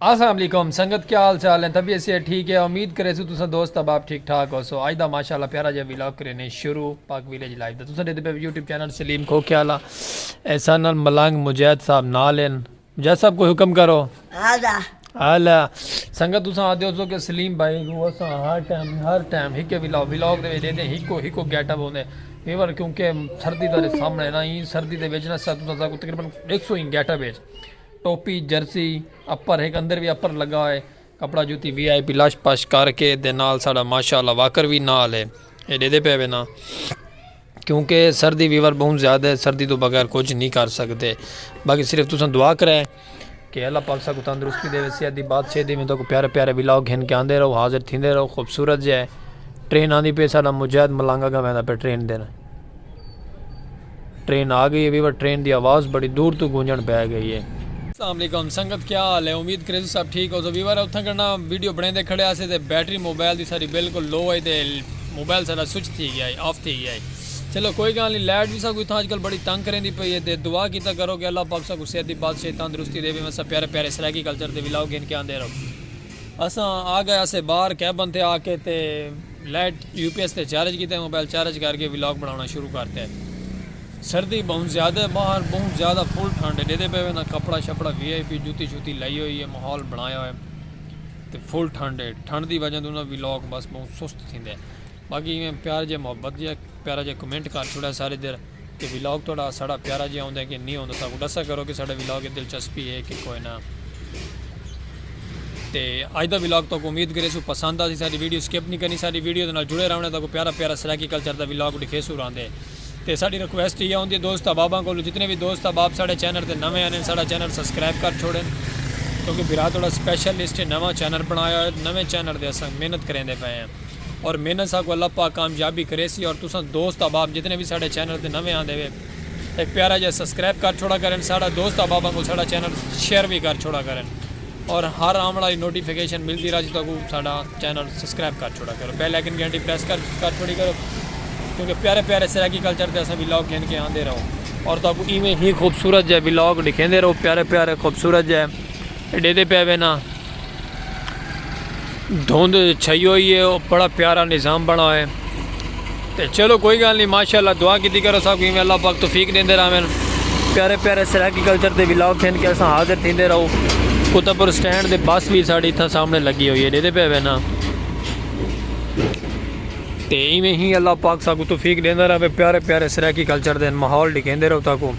السلام علیکم سنگت کیا حال چال ہیں طبیعت صحت ٹھیک ہے امید کریسوں تساں دوست احباب ٹھیک ٹھاک ہوسو اج دا ماشاءاللہ پیارا جا ویلاگ کرینے شروع پاک ویلیج لائف دا تساں دیکھدے پے یوٹیوب چینل سلیم کھوکھے والا ایسا نال ملنگ مجاہد صاحب نال ہیں مجاہد صاحب کوئی حکم کرو ہالا ہالا سنگت تساں آدھے ہوسو کہ سلیم بھائی کو اساں ہر ٹائم ہر ٹائم ہکے ویلاگ ویلاگ دے وچ دیندے ہکو ہکو گیٹ اپ ہوندے ویور کیونکہ سردی دے سامنے نا ہی سردی دے وچ نا سب تساں کو تقریبا 100 ہی گیٹ اپ ہے ٹوپی جرسی اپر ہک اندر وی اپر لگا ہوئے کپڑا جوتی وی آئی پی لش پش کر کے دے نال ساڑا ماشاء اللہ واکر وی نال ہے اے ڈیدے پے وینا کیونکہ سردی ویور بہن زیادہ ہے سردی تو بغیر کچھ نہیں کر سکتے باقی صرف تسان دعا کرے کہ اللہ پاک سا کو تندرستی دے ویسی ادھی بات چھے دی میں تو کو پیارے پیارے ولاو گھن کے آندے رہو حاضر تھی دے رہو خوبصورت جائے ٹرین آندھی پہ ساڑا مجاہد ملانگا گا میں دا پہ ٹرین دینا ٹرین آ گئی ہے ویور ٹرین دی آواز بڑی دور توں گونجن پے گئی ہے۔ السلام علیکم سنگت کیا حال ہے امید کریزو سب ٹھیک ہوسو ویور اتھاں کنا ویڈیو بنڑیندے کھڑے ہاسے تے بیٹری موبائل دی ساڈی بالکل لو ہئی تے موبائل ساڈا سوئچ تھی گیا ہئی آف تھی گیا ہئی چلو کوئی گال نی لائٹ وی ساکوں اتھاں اج کل بڑی تنگ کریندی پئی ہے تے دعا کیتا کرو کہ اللہ پاک ساکوں صحت دی بادشاہی تندرستی دیوے وسا پیارے پیارے سرائیکی کلچر دے ولاگ گھن کے آندے رہو۔ اساں آگئے اسے بار کیبن تے آکے تے لائٹ یو پی ایس تے چارج کیتے موبائل چارج کر کے ولاگ بناونا شروع کرتے سردی بہوں زیادہ باہر بہوں زیادہ فل ٹھنڈ ہے ڈیدے پہ وینا کپڑا شپڑا وی آئی پی جوتی شوتی لائی ہوئی ہے محول بنایا ہوئے تے فل ٹھنڈ ہے ٹھنڈ دی وجہ دونا ولاگ بس بہوں سست تھیندے باقی میں پیار جے محبت جے پیارا جے کمنٹ کر چھوڑا سارے در کہ ولاگ تہاڈا ساڈا پیارا جیہا ہوندا ہے کہ نی ہوندا ساکوں ڈسا کرو کہ ساڈے ولاگ اچ دلچسپی ہے کہ کوئے نہ تے اج دا ولاگ تہاکوں امید کریسوں پسند آسی ساڈی ویڈیو سکپ نی کرنی ساڈی ویڈیو دے نال جڑے راونے تہاکوں پیارا پیارا سرائیکی کلچر دا ولاگ ڈکھیسوں راندے تے ساڈی ریکویسٹ ایہا ہوندی ہے دوست احباباں کولوں جتنے وی دوست احباب ساڈے چینل تے نویں آنے ساڈا چینل سبسکرائب کر چھوڑن کیونکہ بھرا تہاڈا سپیشل لسٹ ہے نواں چینل بنایا ہوئے نویں چینل تے اساں محنت کریندے پئے ہیں۔ اور محنت ساکوں اللہ پاک کامیابی کریسی اور تساں دوست احباب جتنے وی ساڈے چینل تے نویں آندے وے ہک پیارا جیہا سبسکرائب کر چھوڑا کرن ساڈا دوست احباباں کوں ساڈا چینل شیئر وی کر چھوڑا کرن اور ہر آون والی نوٹیفیکیشن ملدی راہسی تہاکوں ساڈا چینل سبسکرائب کر چھوڑا کرو بیل آئیکن گھنٹی پریس کر کر چھوڑی کرو کیونکہ پیارے پیارے سرائیکی کلچر تے اساں ولاگ گھن کے آندے رہو اور تہاکوں ایویں ہی خوبصورت جے ولاگ ڈکھیندے رہو پیارے پیارے خوبصورت جے ڈیندے پئے وینا دھند چھئی ہوئی ہے او بڑا پیارا نظام بنا ہوئے تے چلو کوئی گل نہیں ماشاءاللہ دعا کیتی کرو سب کو اللہ پاک توفیق دیندے راوین پیارے پیارے سرائیکی کلچر دے ولاگ کھین کے اساں حاضر تھیندے رہو کتبر سٹینڈ دے بس بھی ساڑی تھا سامنے لگی ہوئی ہے دیدے پہ وینا تے ایویں ہی اللہ پاک سب کو توفیق دیندے راوے پیارے پیارے سرائیکی کلچر دے ماحول ڈکھیندے رہو تاکو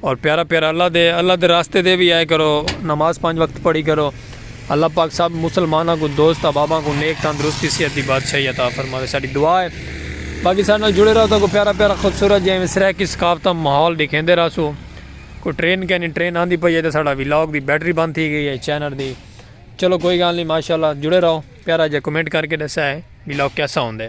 اور پیارا پیارا اللہ دے اللہ دے راستے دے وی آئے کرو نماز پانچ وقت پڑھی کرو اللہ پاک سب مسلمانہ کو دوست احباباں کو نیک تندرستی صحت دی بادشاہی عطا فرماوے ساڈی دعا ہے باقی سارے نال جڑے رہو تو کو پیارا پیارا خوبصورت جے میں سرائیکی ثقافت ماحول دکھیندے رہسو کو ٹرین کینی ٹرین آندی پئی ہے تے ساڈا ولاگ دی بیٹری بند تھی گئی ہے چینل دی چلو کوئی گال نہیں ماشاءاللہ جڑے رہو پیارا جے کمنٹ کر کے دسا ہے ولاگ کیسا ہوندے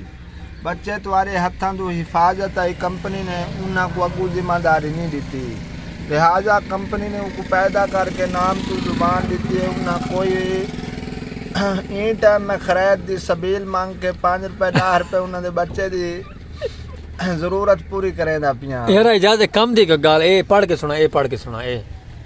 بچت وارے ہتھاں دو حفاظت آئی کمپنی نے انہاں کو اگو ذمہ داری نی ڈتی لہذا کمپنی نے اوکو پیدا کر کے نام توں زبان ڈتی ہے انہاں کوئی این ٹائم میں خرید دی سبیل مانگ کے پانچ روپے ڈاہ روپے انہاں دے بچے دی ضرورت پوری کریندا پیاں۔ یارا اجازت کم دی گال اے پڑھ کے سنا اے پڑھ کے سنا اے۔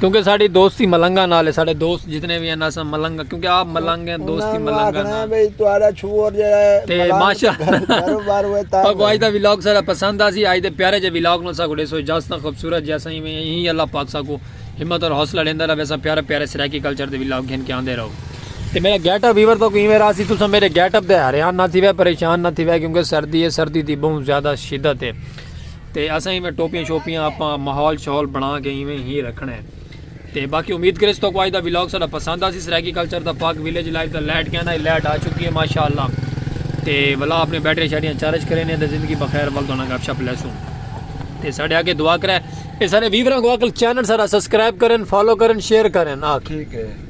کیونکہ ساڑی دوستی ملنگا نال ہے ساڑے دوست جتنے بھی ہیں نا سب ملنگا کیونکہ آپ ملنگ ہیں دوستی ملنگا نال بھئی تہاڈا چھوڑ جے تے ماشا کاروبار ہوئے تا کو آج دا ولاگ سارا پسند آ سی آج دے پیارے جے ولاگ نو سا کو دے سو اجازت خوبصورت جے سائیں میں ہی اللہ پاک سا کو ہمت اور حوصلہ لیندا رہے سا پیارے پیارے سرائیکی کلچر دے ولاگ گھن کے آندے رہو تے میرا گیٹ اپ ویور تو کوئی میرا سی تسا میرے گیٹ اپ دے حیران نہ تھی وے پریشان نہ تھی وے کیونکہ سردی ہے سردی دی بہت زیادہ شدت ہے تے اساں ایویں ٹوپیاں شوپیاں آپاں ماحول شاحول بنڑا کے ایویں ہی رکھنڑاں ہے تے باقی امید کریس توکوں اج دا ولاگ ساڈا پسند آسی سرائیکی کلچر دا پاک ویلیج لائف دا لائٹ کہنا ہے لائٹ آ چکی ہے ماشاءاللہ تے ولا اپنے بیٹری شیٹریاں چارج کرے نے تے زندگی بخیر ول دونا گپ شپ لیسوں تے ساڈے آگے دعا کرے اے سارے ویوراں کو اکل چینل سارا سبسکرائب کرن فالو کرن شیئر کرن آکھ ٹھیک ہے